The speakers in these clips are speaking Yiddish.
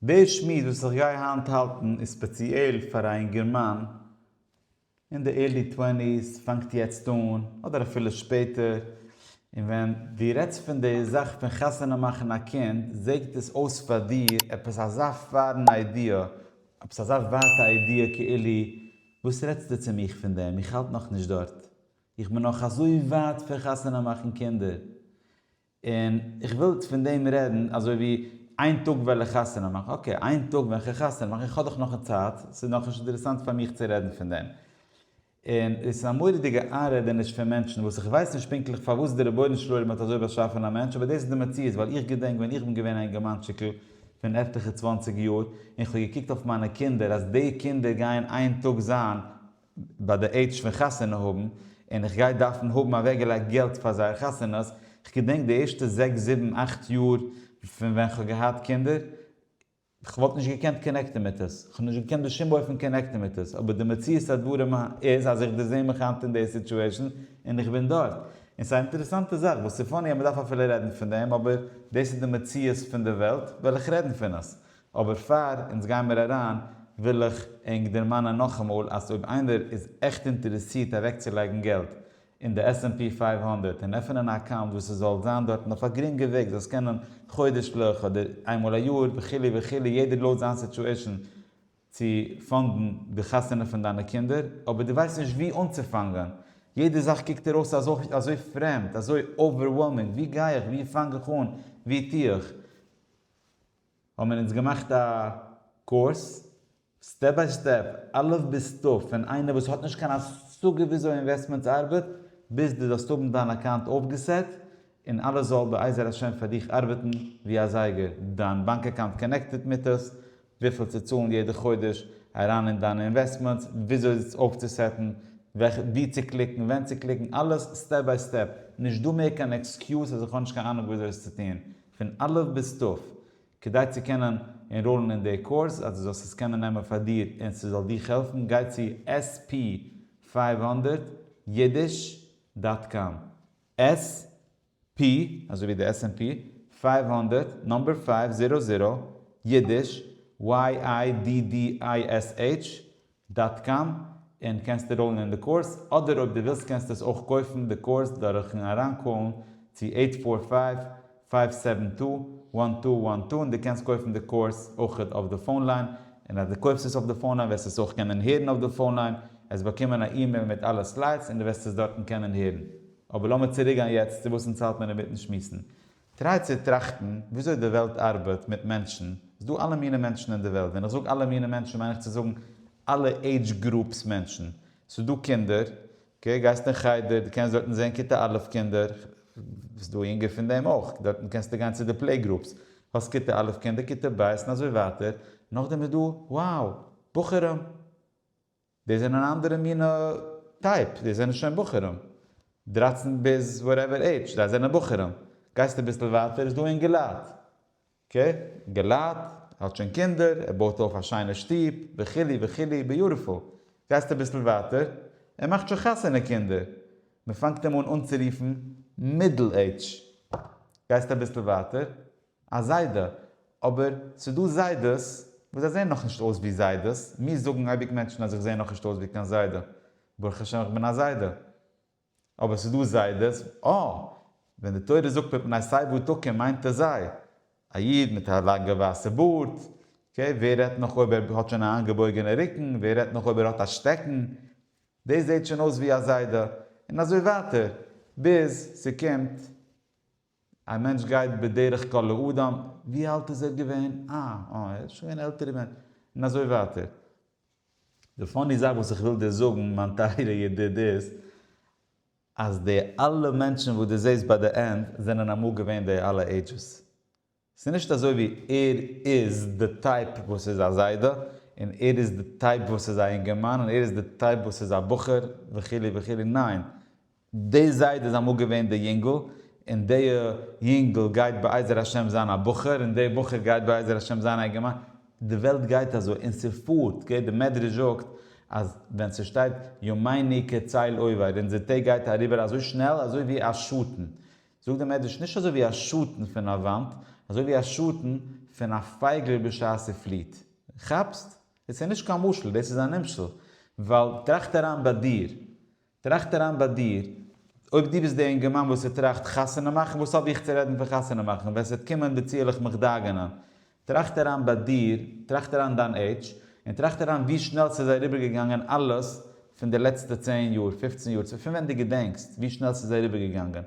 דער שמועס וואס איך גיי היינט האלטן איז ספעציעל פאר א אינגערמאן אין די ערלי טווענטיס, פאנגט יעצט אן אדער אפילו שפעטער, און ווען דו רעדסט פון די זאך פון חתונה מאכן א קינד זעגט עס אויס פאר דיר עפעס אזא פארן איידיע, עפעס אזא ווייטע איידיע כאילו וואס רעדסטו צו מיך פון דעם, איך האלט נאכנישט דארט, איך בין נאך אזוי ווייט פון חתונה מאכן קינדער, און איך וויל פון דעם רעדן אזוי ווי איין טאג וועל איך חתונה מאכן, אקעי איין טאג ווען איך וועל חתונה מאכן, איך האב דאך נאך צייט, ס'איז נאך נישט אינטערעסאנט פאר מיך צו רעדן פון דעם. און עס איז א מורא'דיגע איינרעדעניש פון מענטשן וואס איך ווייס נישט פונקטליך פארוואס דער רבונו של עולם האט אזוי באשאפן א מענטש אבער דאס איז די מציאות ווייל איך געדענק ווען איך בין געווען א אינגערמאנטשיקל פון עטליכע צוואנציג יאר און איך האב געקוקט אויף מיינע קינדער אז די קינדער גייען איין טאג זיין ביי די עידזש פון חתונה האבן, און איך גיי דארפן האבן אוועק געלייגט געלט פאר זייער חתונות, כ'געדענק די ערשטע זעקס זיבן אכט יאר פון ווען כ'האב געהאט קינדער, כ'וואלט נישט געקענט קאנעקטען מיט עס, כ'האב נישט געקענט בשום אופן קאנעקטען מיט עס, אבער די מציאות הדברים איז אז איך דערזעה מיך היינט אין די סיטועשען, און איך בין דארט. און ס'איז א אינטערעסאנטע זאך, וואס ס'פאני אז מ'דארף אפילו רעדן פון דעם, אבער דאס איז די מציאות פון די וועלט, וועל איך רעדן פון עס. אבער פאר אונז גיין מיר אריין וויל איך ענק דערמאנען נאכאמאל אז אויב איינער איז עכט אינטערעסירט אוועקצולייגן געלט אין די עס ענד פי פֿינף הונדערט און עפענען א אקאונט וואס עס זאל זיין דארטן אויף א גרינגע וועג זאל עס קענען חודש'ליך אדער איינמאל א יאר וכו' וכו' יעדער לויט זיין סיטואעשן צו פאנדן די חתונה פון דיינע קינדער אבער דו ווייסט נישט וואו אנצופאנגען יעדע זאך קוקט דיר אויס אזוי אזוי פרעמד אזוי אווערוועלמינג וואו גיי איך וואו פאנג איך אן וואו טו איך האבן מיר אונז געמאכט א קורס סטעפ ביי סטעפ אלף ביז תיו פון איינער וואס האט נישט קיין השגה וויאזוי אינוועסטמענטס ארבעט ביז דו זאלסט האבן דיין אקאונט אויפגעסעט און אלעס זאל בעזר השם פאר דיך ארבעטן ווי א זייגער, דיין באנק אקאונט קאנעקטעט מיט עס, וויפיל צו צאלן יעדע חודש אריין אין דיינע אינוועסטמענטס, וויאזוי עס אויפצוסעטן, ווי צו קליקן, ווען צו קליקן, אלעס סטעפ ביי סטעפ, נישט דא מער קיין עקסקיוז אז איך האב נישט קיין אנונג וויאזוי עס צו טון, פון א' ביז ת', כדי צו קענען ענראלן אין די קורס, אז דו זאלסט עס קענען נעמען פאר דיר און ס'זאל דיך העלפן, גיי צו עס פי פֿינף הונדערט יידיש דאט קאם, עס פי, אזוי ווי די עס ענד פי, פֿינף הונדערט, נאמבער פֿינף, זירא זירא, יידיש, YIDDISH, דאט קאם, און קענסט עראלן אין די קורס, אדער אויב דו ווילסט קענסטו עס אויך קויפן די קורס דורכן אריינקאלן צו אייט פאר פייוו, פייוו סעווען טו, וואן טו וואן טו און דו קענסט קויפן די קורס אויכעט אויף די פאון ליין, און אז דו קויפסט עס אויף די פאון ליין וועסטו עס אויך קענען הערן אויף די פאון ליין, עסט באקומען א אימעיל מיט אלע סליידס און דו וועסט עס דארטן קענען הערן. אבער לאמיר צוריקגיין יעצט צו וואס אונז האלט מיר אינמיטן שמועסן. טריי צו טראכטן וויאזוי די וועלט ארבעט מיט מענטשן, ס'איז דא אלע מינע מענטשן אין די וועלט, ווען איך זאג אלע מינע מענטשן מיין איך צו זאגן אלע עידזש גרופס מענטשן, ס'איז דא קינדער, אקעי, גייסט אין חדר, דו קענסט דארטן זען כיתה א' קינדער, ס'איז דא יונגער פון דעם אויך, דארטן קענסטו גיין צו די פלעי גרופס, האסט כיתה א' קינדער, כיתה ב' און אזוי ווייטער, נאכדעם איז דא, wow, בחורים! די זענען אן אנדערע מין טייפ, די זענען שוין בחורים, דרײַצן ביז וואטעווער עידזש, זיי זענען בחורים, גייסט אביסל ווייטער איז דא אינגעלייט, אקעי, אינגעלייט, ער האט שוין קינדער, ער בויט אויף א שיינע שטוב, וכו' וכו', ביוטיפול, גייסט אביסל ווייטער, ער מאכט שוין חתונה קינדער, מען פאנגט אים אן אנצורופן מידל עידזש, גייסט אביסל ווייטער, א זיידע. אבער ס'דא זיידעס וואס זיי זעהן נאכנישט אויס ווי זיידעס, מיר זאגן אייביג מענטשן אז איך זעה נאכנישט אויס ווי קיין זיידע, ברוך השם איך בין א זיידע. אבער ס'דא זיידעס, אה! ווען די תורה זאגט מפני שיבה תקום מיינט עס זיי. א איד מיט א לאנגע ווייסע בארד, אקעי, ווער רעדט נאך אויב ער האט שוין א איינגעבויגענע רוקן, ווער רעדט נאך אויב ער האט א שטעקן, דאס זעהט שוין אויס ווי א זיידע. און אזוי ווייטער ביז ס'קומט. א מענטש גייט בדרך כל לאדם, ווי אלט איז ער געווען? אה, אה, ער איז שוין געווען עלטער ווען. און אזוי ווייטער. די פאני זאך וואס איך וויל דיר זאגן מיין טייערע ידיד איז, אז די אלע מענטשן וואס דו זעסט ביי די ענד, זענען אמאל געווען די אלע עידזשעס. ס'איז נישט אזוי ווי ער איז די טייפ וואס איז א זיידע, און ער איז די טייפ וואס איז א אינגערמאן, און ער איז די טייפ וואס איז א בחור, וכו' וכו', ניין, די זיידע איז אמאל געווען די יונגל, און די יונגל גייט בעזר השם זיין א בחור, און די בחור גייט בעזר השם זיין א אינגערמאן, די וועלט גייט אזוי, און ס'פארט, גערעכט די מדרש זאגט אז ווען ס'שטייט ימינו כצל עובר, אונזער טעג גייט אריבער אזוי שנעל אזוי ווי א שאטן, זאגט דער מדרש נישט אזוי ווי א שאטן פון א וואנט, אזוי ווי א שאטן פון א פייגל בשעת ס'פליעט. כאפסט? דאס איז נישט קיין משל, דאס איז א נמשל. ווייל טראכט אריין ביי דיר, טראכט אריין ביי דיר, אויב דו ביסט דער אינגערמאן וואס ס'טראכט חתונה מאכן, וואס האב איך צו רעדן פון חתונה מאכן, ווען ס'וועט קומען די צו עלעך מיך דאגה'נען, טראכט אריין ביי דיר, טראכט אריין דיין עידזש, און טראכט אריין ווי שנעל ס'איז אריבערגעגאנגען אלעס פון די לעצטע צען יאר, פופצן יאר, פון ווען דו געדענקסט, ווי שנעל ס'איז אריבערגעגאנגען.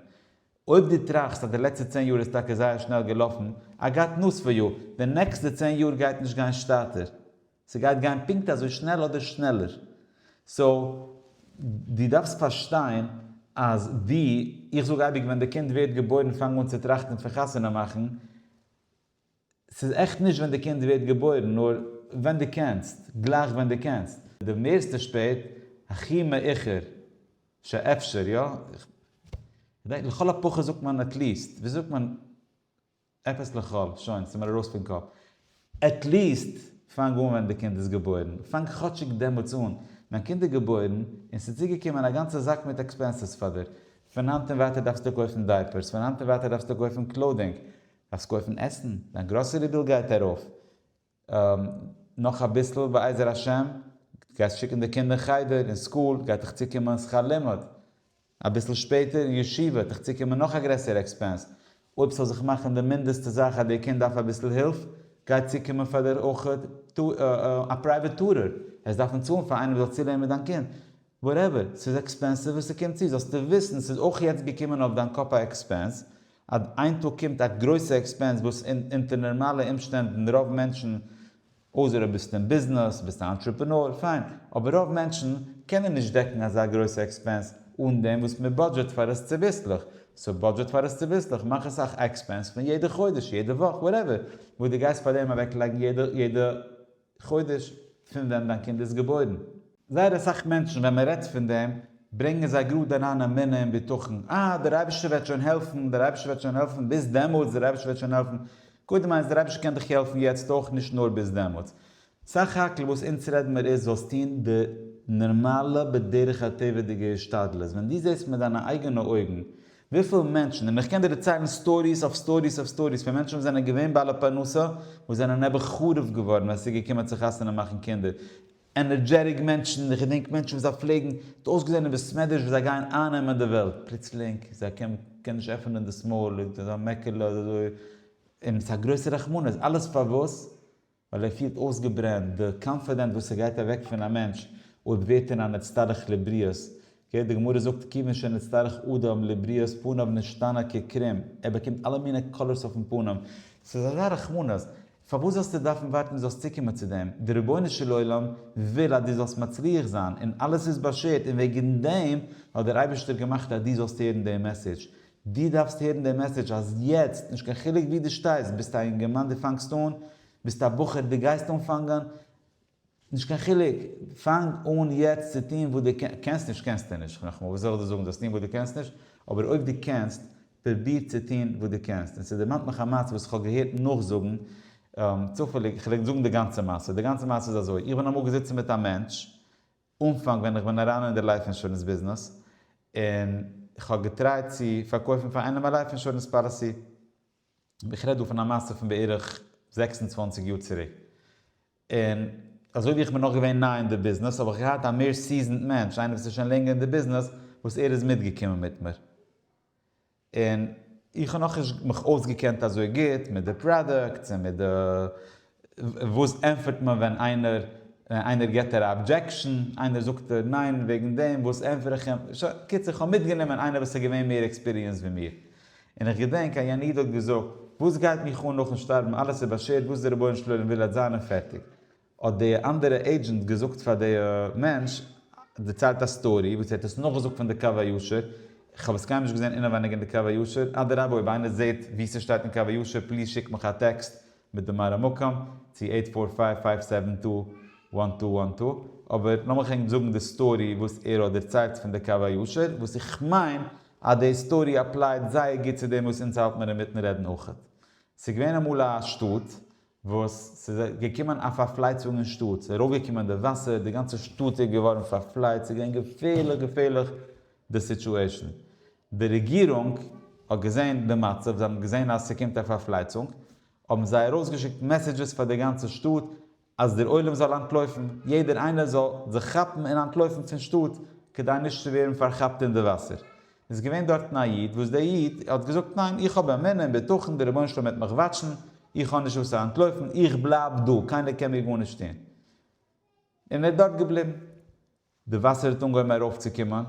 אויב דו טראכסט אז די לעצטע צען יאר איז טאקע זייער שנעל געלאפן, איי גאט נאוס פאר יו, די נעקסטע צען יאר גייט נישט גיין שטאטער. ס'גייט גיין פונקט אזוי שנעל אדער שנעלער. סאו, דו דארפסט פארשטיין אז ווי איך זאג אייביג ווען די קינד ווערט געבוירן פאנג אן צו טראכטן פון חתונה מאכן, ס'איז עכט נישט ווען די קינד ווערט געבוירן, נאר ווען דו קענסט, גלייך ווען דו קענסט. די מערסטע שפעט, הכי מאוחר שאפשר, יא? כ'דענק לכל הפחות זאגט מען עטליעסט. ווי זאגט מען עפעס לכל? שוין, ס'מיר ארויס פון קאפ. עטליעסט פאנג אן ווען די קינד איז געבוירן. פאנג כאטשיג דעמאלטס אן. דיין קינד איז געבוירן, און ס'איז צוגעקומען א גאנצע זאק מיט עקספענסעס פאר דיר. פון היינט און ווייטער דארפסטו קויפן דייפערס, פון היינט און ווייטער דארפסטו קויפן קלאודינג, דארפסט קויפן עסן, דיין גראסערי ביל גייט ארויף, נאך אביסל בעזר השם גייסט שיקן די קינדער חדר און סקול, גייט דיך צוקומען שכר לימוד, אביסל שפעטער ישיבה, וועט דיך צוקומען נאך א גרעסערע עקספענס, אויב ס'זאל זיך מאכן די מינדעסטע זאך אז די קינד דארף אביסל הילף, גייט צוקומען פאר דיר אויך א פרייוועט טורער, וועסט דארפן צאלן פאר איינער וואס זאל צולערנען מיט דיין קינד, וואטעווער, ס'איז עקספענסיוו און ס'קומט צו, זאלסטו וויסן ס'איז אויך יעצט געקומען אויף דיין קאפ א עקספענס, אט איין טאג קומט א גרויסע עקספענס וואס אונטער נארמאלע אומשטענדן רוב מענטשן, אויסער אויב ביסטו אין ביזנעס, ביסט א אנטרעפענאר, פיין, אבער רוב מענטשן קענען נישט דעקן אזא גרויסע עקספענס אן דעם וואס מען בודזשעט פאר עס צוביסלעך, סאו בודזשעט פאר עס צוביסלעך, מאך עס א עקספענס פון יעדע חודש, יעדע וואך, וואטעווער, וואס דו גייסט פאר דעם אוועקלייגן יעדע. חודש פון ווען דיין קינד איז געבוירן. זייער אסאך מענטשן ווען מען רעדט פון דעם ברענגען זיי גראד אריין אמונה און בטחון, אה דער אייבערשטער וועט שוין העלפן, דער אייבערשטער וועט שוין העלפן ביז דעמאלטס, דער אייבערשטער וועט שוין העלפן, קודם איינס דער אייבערשטער קען דיך העלפן יעצט אויך נישט נאר ביז דעמאלטס, סך הכל וואס אונז רעדן מיר איז זאלסט טון די נארמאלע בדרך הטבע'דיגע השתדלות, ווען דו זעסט מיט דיינע אייגענע אויגן וויפיל מענטשן, און איך קען דיר דערציילן סטאריס אויף סטאריס אויף סטאריס פון מענטשן וואס זענען געווען בעלי פרנסה וואס זענען נעבעך חרוב געווארן ווען עס איז געקומען צו חתונה מאכן קינדער, ענערדזשעטיק מענטשן, איך געדענק מענטשן וואס זיי פלעגן, האט אויסגעזען אין בעסמעדרעש ווי זיי גייען אייננעמען די וועלט, פלוצלינג זיי קען קען נישט עפענען דאס מויל, אזא מעקעלע אזוי און ס'איז א גרויסע רחמנות, אלעס פארוואס? ווייל ער פילט אויסגעברענט, די קאנפידענט וואס ס'גייט אוועק פון א מענטש אויב ווערט ער א נצטרך לבריות, אקעי, די גמרא זאגט כיוון שנצטרך אדם לבריות פניו נשתנה כקרים, ער באקומט אלע מיני קאלערס אויפן פנים, ס'איז אזא רחמנות, פארוואס זאלסטו דארפן ווארטן זאלסט צוקומען צו דעם, די רבונו של עולם וויל אז דו זאלסט מצליח זיין, און אלעס איז באשערט, און וועגן דעם האט דער אייבערשטער געמאכט אז דו זאלסט הערן דעם מעסעדזש, דו דארפסט הערן דעם מעסעדזש אז יעצט, נישט קיין חילוק וואו דו שטייסט, ביסטו א אינגערמאן דו פאנגסט אן, ביסטו א בחור דו גייסט אנפאנגען, נישט קיין חילוק, פאנג אן יעצט צו טון וואס דו קענסט נישט קענסטו נישט, נאכאמאל וואס זאל איך דיר זאגן זאלסט טון וואס דו קענסט נישט, אבער אויב דו קענסט, פרוביר צו טון וואס דו קענסט, און ס'דערמאנט מיך א מעשה וואס כ'האב געהערט נאכזאגן, צופעליג, כ'וועל זאגן די גאנצע מעשה, די גאנצע מעשה איז אזוי, איך בין אמאל געזיצן מיט א מענטש, אנפאנג ווען איך בין אריין אין די לייף אינשורענס ביזנעס און כ'האב געטרייט צו פארקויפן פאר איינעם א לייף אינשורענס פאליסי, איך רעד דא פון א מעשה פון בערך זעקס און צוואַנציק יאר צוריק, און אזוי ווי איך בין נאך געווען ניי אין די ביזנעס האב איך געהאט א מער סיזענד מענטש, איינער וואס איז שוין לענגער אין די ביזנעס, וואס ער איז מיטגעקומען מיט מיר. און איך האב נאכנישט מיך אויסגעקענט אזוי גוט מיט די פראדוקטס און מיט די וואס ענטפערט מען ווען איינער איינער געט א אבדזשעקשאן איינער זאגט ניין וועגן דעם וואס ענטפער איך אים קיצור איך האב מיטגענומען איינער וואס איז געווען מער עקספיריענסד ווי מיר און איך געדענק א יענער איד האט געזאגט וואס גייט מיך אן נאכן שטארבן אלעס איז באשערט וואס די רבונו של עולם וויל וועט זיין און פערטיג האט די אנדערע עידזשענט געזאגט פאר די מענטש, דערציילט א סטארי וואס ער האט עס נאכגעזאגט פון די קו הישר, כ'האב עס קיינמאל נישט געזען אינעווייניג אין די קו הישר, אדרבה אויב איינער זעהט וואו ס'שטייט אין קו הישר פליז שיק מיך א טעקסט מיט די מראה מקום צו עיט פאר פייוו פייוו סעווען טו וואן טו וואן טו, אבער לאמיך ענק זאגן די סטארי וואס ער האט דערציילט פון די קו הישר, וואס איך מיין אז די סטארי אפלייט זייער גוט צו דעם וואס אונז האלט מיר אינמיטן רעדן אויכעט. ס'געווען אמאל א שטאט וואס ס'איז געקומען א פארפלייצונג אין שטאט, ס'איז ארויפגעקומען די וואסער, די גאנצע שטאט איז געווארן פארפלייצט, ס'איז געווען געפערליך געפערליך די סיטועשאן, די רעגירונג האט געזען די מצב, זיי האבן געזען אז ס'קומט א פארפלייצונג, האבן זיי ארויסגעשיקט מעסעדזשעס פאר די גאנצע שטאט, אז דער עולם זאל אנטלויפן, יעדער איינער זאל זיך כאפן און אנטלויפן פון שטאט, כדי נישט צו ווערן פארכאפט אין די וואסער. איז געווען דארטן א איד וואס דער איד האט געזאגט ניין איך האב אמונה און בטחון דער רבונו של עולם וועט מיך וואטשן איך האב נישט וואס צו אנטלויפן איך בלייב דא קיינער קען מיר גארנישט טון און ער איז דארט געבליבן די וואסער האט אנגעהויבן ארויפצוקומען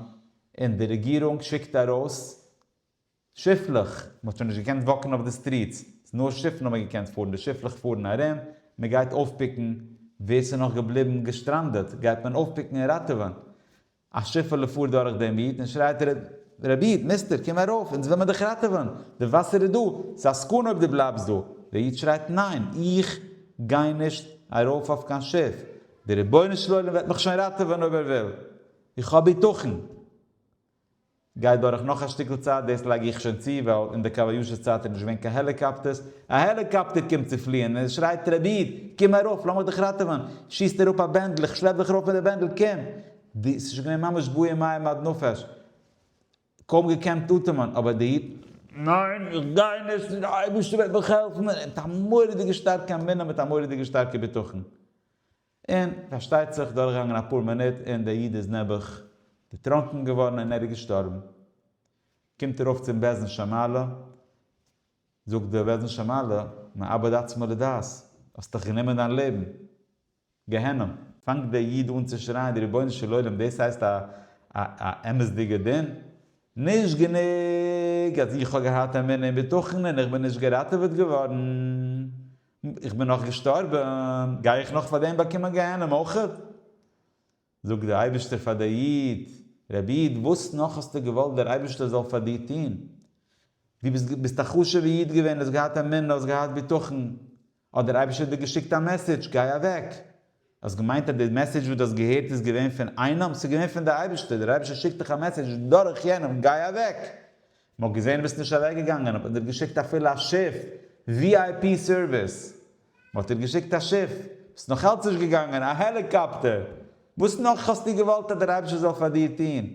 און די רעגירונג שיקט ארויס שיפלעך מען האט שוין נישט געקענט וואקן אויף די סטריטס נאר שיפן האבן געקענט פארן די שיפלעך פארן ארום מען גייט אויפפיקן ווער ס'איז נאך געבליבן געשטראנדעט גייט מען אויפפיקן און ראטעווען א שיפעלע פארט דורך דעם איד און שרייט רבי איד, מיסטער, קום ארויף, אונז וויל מען דיך ראטעווען, די וואסער איז דא, ס'איז א סכנה אויב דו בלייבסט דא. דער איד שרייט, ניין, איך גיי נישט ארויף אויף קיין שיף, דער רבונו של עולם וועט מיך שוין ראטעווען אויב ער וויל, איך האב ביטחון. גייט דורך נאך א שטיקל צייט, דאס לייג איך שוין צו, ווייל אין די קאווע יאשע צייט איז נישט געווען קיין העליקאפטערס, א העליקאפטער קומט צו פליען, און עס שרייט רביד! קום ארויף! לאמיך דיך ראטעווען! שיסט אראפ א בענדל, איך שלעפ דיך ארויף מיט די בענדל, קום! די, ס'איז שוין געווען ממש בוער מים עד נפש, קוים געקענט אטעמען, אבער די איד, ניין! איך גיי נישט! די אייבערשטער וועט מיך העלפן! מיט א מורא'דיגע שטארקע אמונה, מיט א מורא'דיגע שטארקע בטחון. און פארשטייט זיך דורכגעגאנגען אפאר מינוט און דער איד איז נעבעך דערטראנקן געווארן און ער איז געשטארבן. קומט ארויף צום בעזן שמעלע, זאגט דער בעזן שמעלע, מאבד עצמו לדעת, האסט דאך גענומען דיין לעבן. גיהנום. פאנגט דער איד אן צו שרייען, רבונו של עולם, דאס הייסט א א אמת'דיגער דין? נישט גענוג אז איך האב געהאט אמונה און בטחון און איך בין נישט געראטעוועט געווארן, איך בין נאך געשטארבען, גיי איך נאך פאר דעם באקומען גיהנום אויכעט? זאגט דער אייבישטער פאר דער איד, רבי איד וואס נאך האסטו געוואלט דער אייבישטער זאל פאר דיר טוהן? דו ביסט ביסט א חשובע איד געווען, האסט געהאט אמונה, האסט געהאט בטחון, האט דער אייבישטער דיר געשיקט א מעסעדזש, גיי אוועק, האסט געמיינט אז די מעסעדזש וואס דו האסט געהערט איז געווען פון איינעם? ס'איז געווען פון די אייבערשטער, דער אייבערשטער שיקט דיך א מעסעדזש דורך יענעם, גיי אוועק! מ'האט געזען ביסט נישט אוועק געגאנגען האט מען דיר געשיקט אפילו א שיף, ווי איי פי סערוויס, מ'האט דיר געשיקט א שיף, ביסט נאך אלץ נישט געגאנגען, א העליקאפטער, וואס נאך האסטו געוואלט אז דער אייבערשטער זאל פאר דיר טון?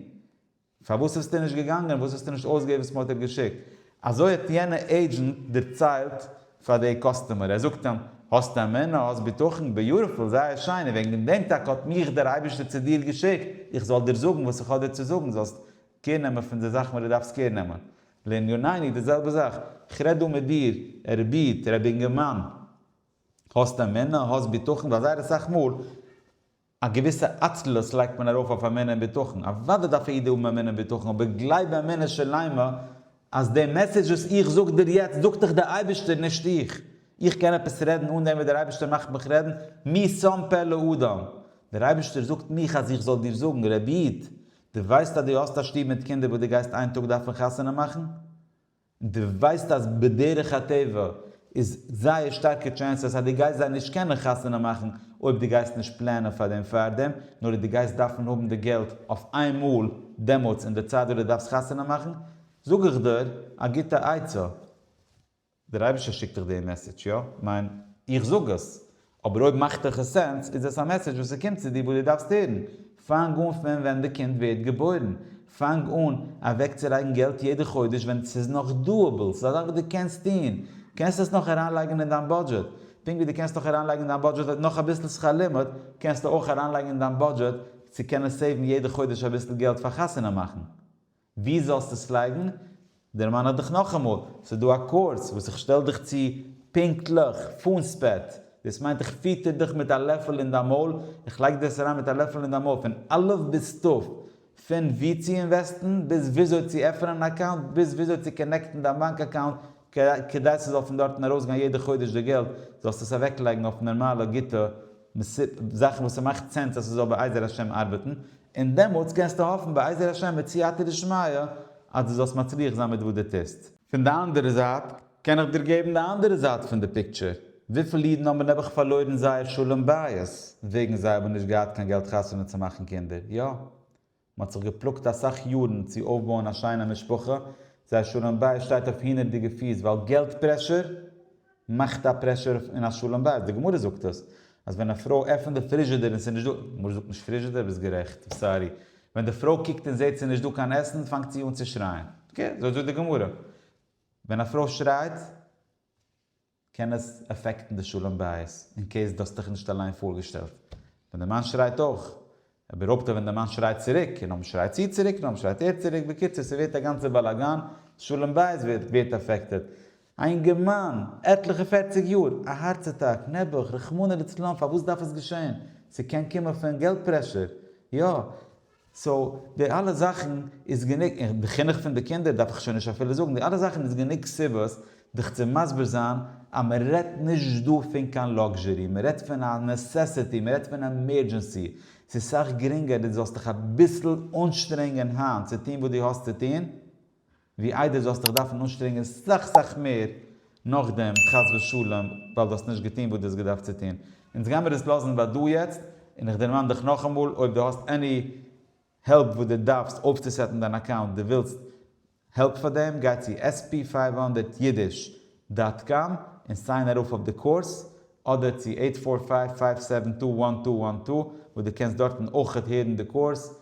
פארוואס ביסטו נישט געגאנגען? וואס האסטו נישט אויסגעהערט וואס מ'האט דיר געשיקט? אזוי האט יענע עידזשענט דערציילט פאר די קאסטומער, ער זאגט אים, האסט אמונה, האסט בטחון, ביוטיפול, זייער שיין, און וועגן דעם טאקע האט מיך דער אייבערשטער צו דיר געשיקט, איך זאל דיר זאגן וואס איך האב דיר צו זאגן, זאלסט קער נעמען פון די זאכן וואס דו דארפסט קער נעמען. לענינינו, די זעלבע זאך, איך רעד דא מיט דיר, ער בעט, רבי אינגערמאן, האסט אמונה, האסט בטחון, ווייל זייער אסאך מאל, א געוויסע עצלות לייגט מען ארויף אויף אמונה און בטחון, אוודאי דארף א איד האבן אמונה און בטחון, אבער גלייב באמונה שלימה אז די מעסעדזש וואס איך זאג דיר יעצט זאגט דיך דער אייבערשטער נישט איך. איך קען עפעס רעדן אן דעם וואס דער אייבערשטער מאכט מיך רעדן, מי שם פה לאדם? דער אייבערשטער זאגט מיך אז איך זאל דיר זאגן, רבי איד, דו ווייסט אז דו האסט א שטוב מיט קינדער וואס דו גייסט איין טאג דארפן חתונה מאכן? און דו ווייסט אז בדרך הטבע איז זייער שטארקע טשענסעס אז דו גייסט זיי נישט קענען חתונה מאכן אויב דו גייסט נישט פלענען פאר דעם פארדעם, נאר אויב דו גייסט דארפן האבן די געלט אויף איין מאל דעמאלטס אין די צייט וואס דו דארפסט חתונה מאכן, זאג איך דיר א גוטע עצה. דער אייבערשטער שיקט דיך דעם מעסעדזש, יא, כ'מיין, איך זאג עס, אבער אויב מאכט דיך עס סענס, איז עס א מעסעדזש וואס ס'קומט צו דיר וואס דו דארפסט הערן. פאנג אן פון ווען די קינד ווערט געבוירן. פאנג אן אוועקצולייגן געלט יעדע חודש ווען ס'איז נאך דאאבעל, ס'איז א זאך וואס דו קענסט טון. קענסט עס נאך אריינלייגן אין דיין בודזשעט. פונקט ווי דו קענסט נאך אריינלייגן אין דיין בודזשעט נאך אביסל שכר לימוד, קענסטו אויך אריינלייגן אין דיין בודזשעט צו קענען סעיוון יעדע חודש אביסל געלט פאר חתונה מאכן. ווי זאלסטו עס לייגן? דערמאן איך דיך נאכאמאל, ס'איז דא א קורס וואס איך שטעל דיך צו פונקטליך פארן ספעט, דאס מיינט איך פיטער דיך מיט א לעפל אין דיין מויל, איך לייג דיר עס אריין מיט א לעפל אין דיין מויל פון א' ביז ת', פון וואו צו אינוועסטן, ביז וויאזוי צו עפענען אן אקאונט, ביז וויאזוי צו קאנעקטן דיין באנק אקאונט כדי ס'זאל פון דארטן ארויסגיין יעדע חודש די געלט, זאלסטו עס אוועקלייגן אויף נארמאלע גוטע מסיבות, זאכן וואס ס'מאכט סענס אז ס'זאל בעזר השם ארבעטן, און דעמאלטס קענסטו האפן בעזר השם מיט סייעתא דשמיא אז דו זאלסט מצליח זיין מיט וואס דו טוסט. פון די אנדערע זייט, קען איך דיר געבן די אנדערע זייט פון די פיקטשער. וויפיל אידן האבן נעבעך פארלוירן זייער שלום בית, וועגן זיי האבן נישט געהאט קיין געלט חתונה צו מאכן קינדער. יא. מען האט זיך געפלאגט אסאך יארן צו אויפבויען א שיינע משפחה, זייער שלום בית שטייט אויף הינערדיגע פיס ווייל געלט פרעשור מאכט א פרעשור אין א שלום בית, די גמרא זאגט עס אז ווען א פרוי עפענט די פריזשידער און ס'איז נישט דא, גמרא זאגט נישט פריזשידער? ביסט גערעכט, סארי, ווען די פרוי קוקט און זעט ס'איז נישט דא קיין עסן פאנגט זי אן צו שרייען, אקעי, אזוי זאגט די גמרא, ווען א פרוי שרייט, קען עס אפעקטן די שלום בית אין קעיס דו האסטעך נישט אליין פארגעשטעלט ווען די מאן שרייט אויך אבער אפטע ווען די מאן שרייט צוריק און נאכדעם שרייט זי צוריק נאכדעם שרייט ער צוריק בקיצור ס'ווערט א גאנצע באלאגאן שלום בית ווערט ווערט אפעקטעד א אינגערמאן עטליכע פערציג יאר א הארץ אטאק נעבעך רחמנא לצלן פארוואס דארף עס געשען ס'קען קומען פון געלט פרעשור יא סאו די אלע זאכן איז גענוג, און די חינוך פון די קינדער דארף איך שוין נישט אפילו זאגן, די אלע זאכן איז גענוג סיבות דיך צו מסביר זיין אז מען רעדט נישט דא פון קיין לאקזשערי, מען רעדט פון א נעסעסעטי, מען רעדט פון עמערדזשענסי, ס'איז סאך גרינגער דו זאלסט דיך אביסל אנשטרענגען היינט צו טון וואס דו האסט צו טון, ווי איידער זאלסט דיך דארפן אנשטרענגען סאך סאך מער נאכדעם חס ושלום ווייל דו האסט נישט געטון וואס דו האסט געדארפט צו טון. אונז גיימיר עס לאזן ביי דא יעצט, און איך דערמאן דיך נאכאמאל אויב דו האסט עני העלפ וואס דו דארפסט אויפצוסעטן דיין אקאונט דו ווילסט העלפ פאר דעם גיי צו עס פי פֿינף הונדערט אידיש דאט קאם און סיין ארויף אויף די קורס אדער צו עיט פאר פייוו פייוו סעווען טו וואן טו וואן טו וואס דו קענסט דארטן אויכעט הערן די קורס